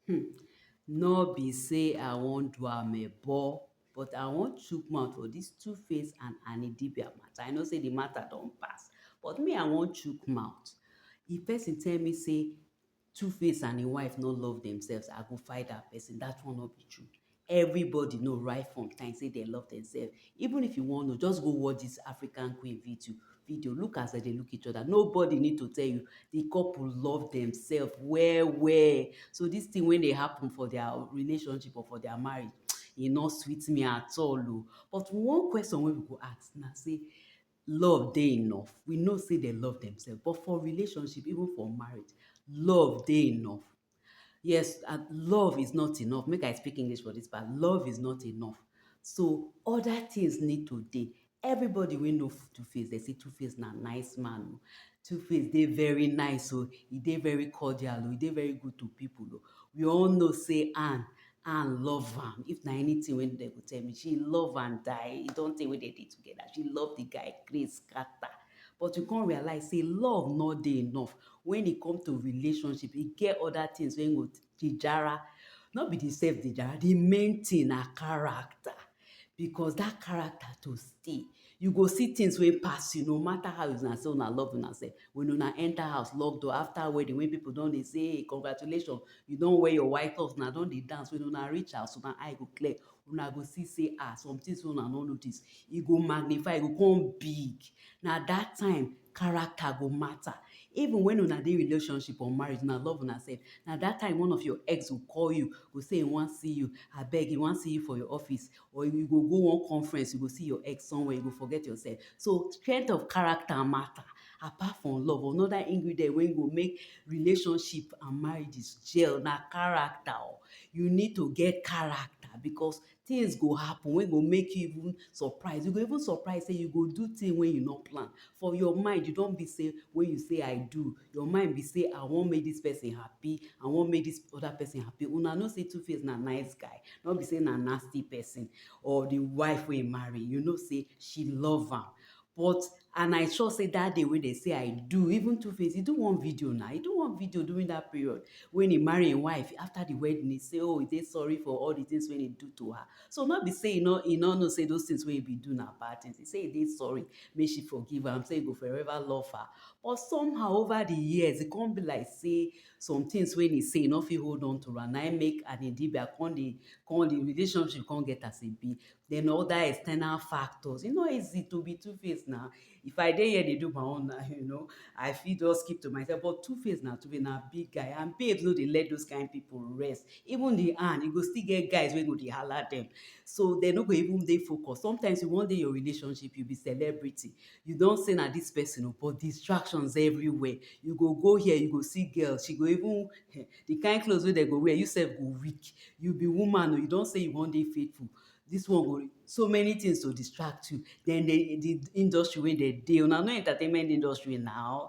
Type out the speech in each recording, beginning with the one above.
Hmm, no be sey I wan do amebo, but I wan chook mouth for dis Two Face and Annie Dibia matter. I know sey the matter don pass, but me I wan chook mouth. If person tell me sey Two Face and im wife no love themselves, I go fight that person. That one no be true. Everybody know right from time say dem love themselves. Even if you wan know, just go watch this African Queen video. video. Look as dem dey look each other. Nobody need to tell you. The couple love themselves well, well. So this thing when they happen for their relationship or for their marriage, e no sweet me at all. Oh. But one question when we go ask now, say, love they enough. We know say they love themselves. But for relationship, even for marriage, love they enough. Yes, and love is not enough. Make I speak English for this part. Love is not enough. So other things need to dey. Everybody wey know Two Face, they say Two Face na nice man. o. Two Face dey very nice o. E dey very cordial o. E dey very good to people o. We all know say Anne, Anne love am. If na anything wey dem go tell me, she love am die. E don tey wey dem dey together. She love the guy craze scatter. But you come realize sey love no dey enough wen e come to relationship, e get other things wey go dey jara. No be the self dey jara, the main thing na character. Because dat character to stay, you go see things wey pass you no matter how una say una love una self. When una enter house, lock door, after wedding wey pipu don dey say congratulations, you don wear your white cloth, una don dey dance. When una reach house, una eye go clear, una go see say ah some things wey una no notice e go magnify e go come big na that time character go matter even when una dey relationship or marriage una love una self na that time one of your ex go call you go say e wan see you abeg e wan see you for your office or you go go one conference you go see your ex somewhere you go forget yourself so strength of character matter Apart from love, another ingredient wey go make relationship and marriages gel na character o. You need to get character becos tins go happen wey go make you even surprise. You go even surprise sey you go do tin wey you no plan. For your mind, you don be sey wey you say I do, your mind be sey I wan make dis pesin happy, I wan make dis other pesin happy. Una know sey Two Face na nice guy, no be sey na nasty pesin or the wife wey e marry. You know sey she love am. But and I sure say that day wey dem say I do, even two face, he do one video now. He do one video during that period when he marry him wife. After the wedding, he say, oh, he dey sorry for all the things wey he do to her. So not be say he no he no know say those things wey he be do na bad things. He say he dey sorry, make she forgive am, say he go forever love her. But somehow over the years, it come be like say some things wey he say he no fit hold on to am. Na him make Annie Dibia come dey come the relationship come get as e be. then other external factors. It's not easy to be two-faced now. If I dey here, they do my own now, you know. I feel just keep to myself. But two-faced now, to be now big guy. And babes no they let those kind of people rest. Even the hand, you go still get guys when go they holler them. So they no go even they focus. Sometimes you one day your relationship, you be celebrity. You don't say now this person, oh, but distractions everywhere. You go go here, you go see girls. She go even the kind cloth wey dem go wear, you self go weak, you be woman o, you don sey you wan dey faithful, dis one go, so many things to distract you, den dey the industry wey dem dey, una know entertainment industry na,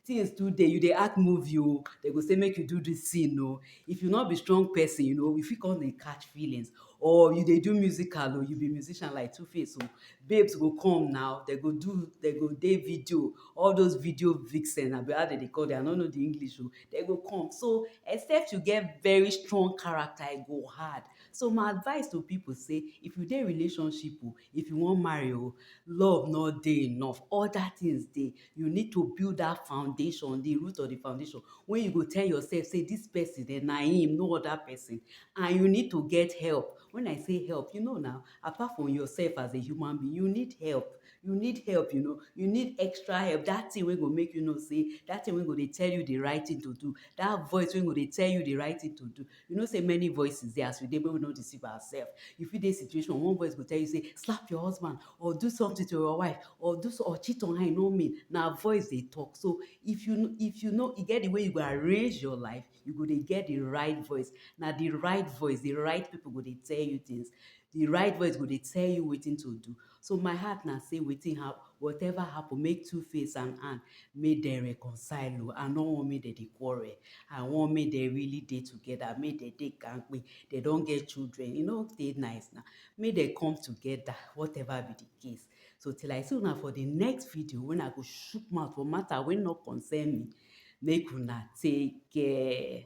things too dey, you dey act movie o, dem go sey make you do dis scene o, if you no be strong person, you know, you fit con dey catch feelings, or you dey do musical o, you be musician like two face o, babes go come na, dem go do, dem go dey video, all those video vixen abi how dem dey call dem, I no know the English o. dem go come. So, except you get very strong character, e go hard. So, my advice to people say, if you dey relationship o, oh, if you wan marry o, oh, love no dey enough. Other things dey. You need to build that foundation, the root of the foundation, wey you go tell yourself say this person eh, na him, no other person. And you need to get help. When I say help, you know now, apart from yourself as a human being, you need help. You need help, you know, you need extra help. That thing wey go make you know say, that thing wey go dey tell you the right thing to do, that voice wey go dey tell you the right thing to do. You know say many voices dey as we dey, make we no deceive ourselves. You fit dey situation, one voice go tell you say, slap your husband or do something to your wife or do or cheat on her, e no mean. Na voice dey talk. So, if you if you know e get the way you go arrange your life, you go dey get the right voice na the right voice the right people go dey tell you things the right voice go dey tell you wetin to do so my heart na say wetin happen whatever happen make two face and hand make dem reconcile o i no wan make dem dey quarrel i wan make dem really dey together make dem dey kampe dem don get children e no dey nice na make dem come together whatever be the case so till i see una for the next video when i go shook mouth for matter wey no concern me make una take care.